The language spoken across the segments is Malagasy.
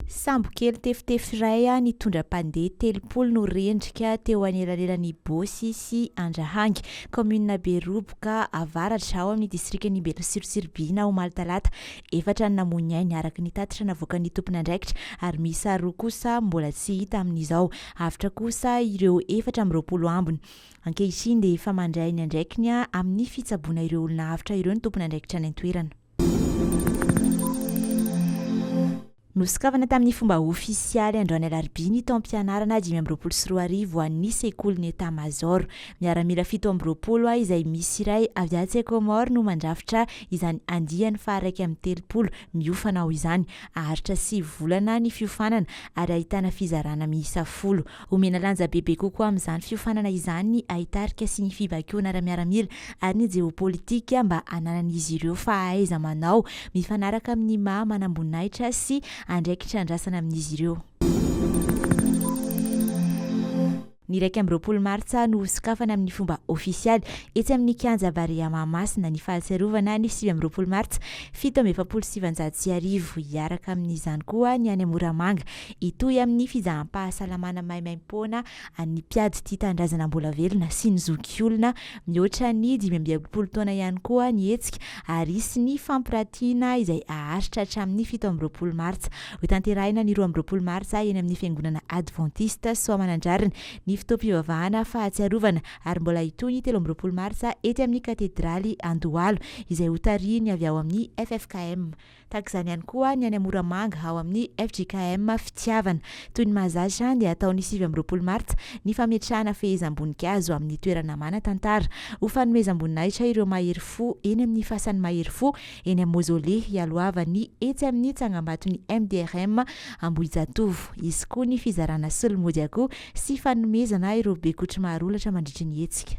Sambo kely tefitefy iray nitondra mpandeha telopolo no rendrika teo anelanelan'i Bosy sy Andrahangy, kaominina Beroboka avaratra, ao amin'ny distrikan'i Belotsirotsiribihina, omaly talata. Efatra no namoy ny ainy, araka ny tatitra navoakan'ny tompon'andraikitra, ary miisa roa kosa mbola tsy hita amin'izao. Avotra kosa ireo efatra amby roapolo ambiny. Ankehitriny dia efa mandray ny andraikiny amin'ny fitsaboana ireo olona avotra ireo ny tompon'andraikitra any an-toerana. Nosokafana tamin'ny fomba ofisialy androany alarobia ny taom-pianarana dimy amby roapolo sy roa arivo ho an'ny sekolin'ny État Major. Miaramila fito amby roapolo izay misy iray avy atsy Comores no mandrafitra izany andiany faha iraika amby telopolo miofana ao izany. Haharitra sivy volana ny fiofanana ary ahitana fizarana miisa folo. Homena lanja bebe kokoa amin'izany fiofanana izany ny haitarika sy ny fibaikoana ara-miaramila ary ny jeopolitika mba hananan'izy ireo fahaiza-manao mifanaraka amin'ny maha manamboninahitra sy andraikitra andrasana amin'izy ireo. Ny iraika amby roapolo martsa no ho sokafana amin'ny fomba ofisialy etsy amin'ny Kianja Barea Mahamasina ny fahatsiarovana ny sivy amby roapolo martsa fito amby efapolo sy sivinjato sy arivo. Hiaraka amin'izany koa ny any Moramanga Hitohy amin'ny fizaham-pahasalamana maimaim-poana an'ny mpiady tia tanindrazana mbola velona sy ny zoky olona mihoatra ny dimy amby enimpolo taona ihany koa ny hetsika ary hisy ny fampirantiana izay haharitra hatramin'ny fito amby roapolo martsa. Hotanterahina ny roa amby roapolo martsa eny amin'ny fiangonana advantista Soamanandrariny ny fotoam-pivavahana fahatsiarovana ary mbola hitohy ny telo amby roapolo martsa ety amin'ny katedraly Andohalo izay hotarihin'ny avy ao amin'ny ffkm Tahaka izany ihany koa ny any Moramanga ao amin'ny fjkm Fitiavana. Toy ny mahazatra dia hatao ny sivy amby roapolo martsa ny fametrahana fehezam-boninkazo amin'ny toerana manan-tantara ho fanomezam-boninahitra ireo mahery fo eny amin'ny fasan'ny mahery fo eny amin'ny Mozole hialohavan'ny etsy amin'ny tsangambaton'ny MDRM Ambohijatovo. Hisy koa ny fizarana solomodia akoho sy fanomezana ireo bekotry maharolatra mandritry ny hetsika.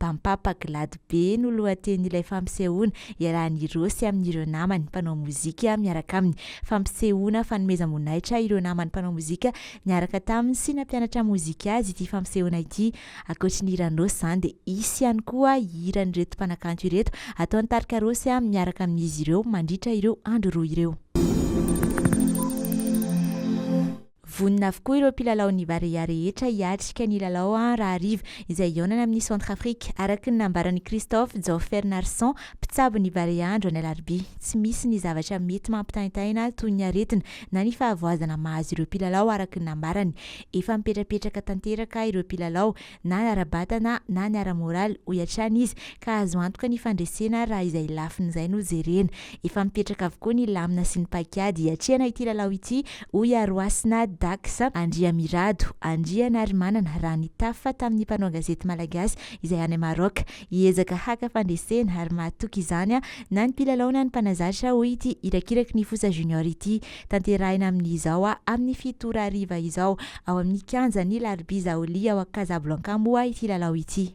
Bampapa Glady be no lohatenin'ilay fampisehoana, iarahan'i Rossy amin'ireo namany mpanao mozika miaraka aminy. Fampisehoana fanomezam-boninahitra ireo namany mpanao mozika niaraka taminy sy nampianatra mozika azy ity fampisehoana ity. Ankoatry ny hiran'i Rossy izany dia hisy ihany koa hiran'ireto mpanakanto ireto ataon'ny tarika Rossy miaraka amin'izy ireo mandritra ireo andro roa ireo. Vonona avokoa ireo mpilalaon'ny Barea rehetra hiatrika ny lalao rahariva izay hihaonana amin'i Centrafrique, araka ny nambaran'i Christophe Jaofernarson, mpitsabo ny Barea andro ny alarobia. Tsy misy ny zavatra mety mampitaintaina toy ny aretina na ny fahavoazana mahazo ireo mpilalao araka ny nambarany. Efa mipetrapetraka tanteraka ireo mpilalao. na ny ara-batana na ny ara-moraly, hoy hatrany izy, ka azo antoka ny fandresena raha izay lafiny izay no jerena. Efa mipetraka avokoa ny lamina sy ny paikady hiatrehana ity lalao ity, hoy Iharohasina Dax Andriamirado, Andrianarimanana, raha nitafa tamin'ny mpanao gazety malagasy izay any Maroc. Hiezaka haka fandresena ary mahatoky izany na ny mpilalao na ny mpanazatra, hoy ity irakiraky ny fosa junior ity. Tanterahina amin' izao a amin'ny fito ora hariva izao ao amin'ny kianja ny Larbi Zaoli ao Casablanca moa ity lalao ity.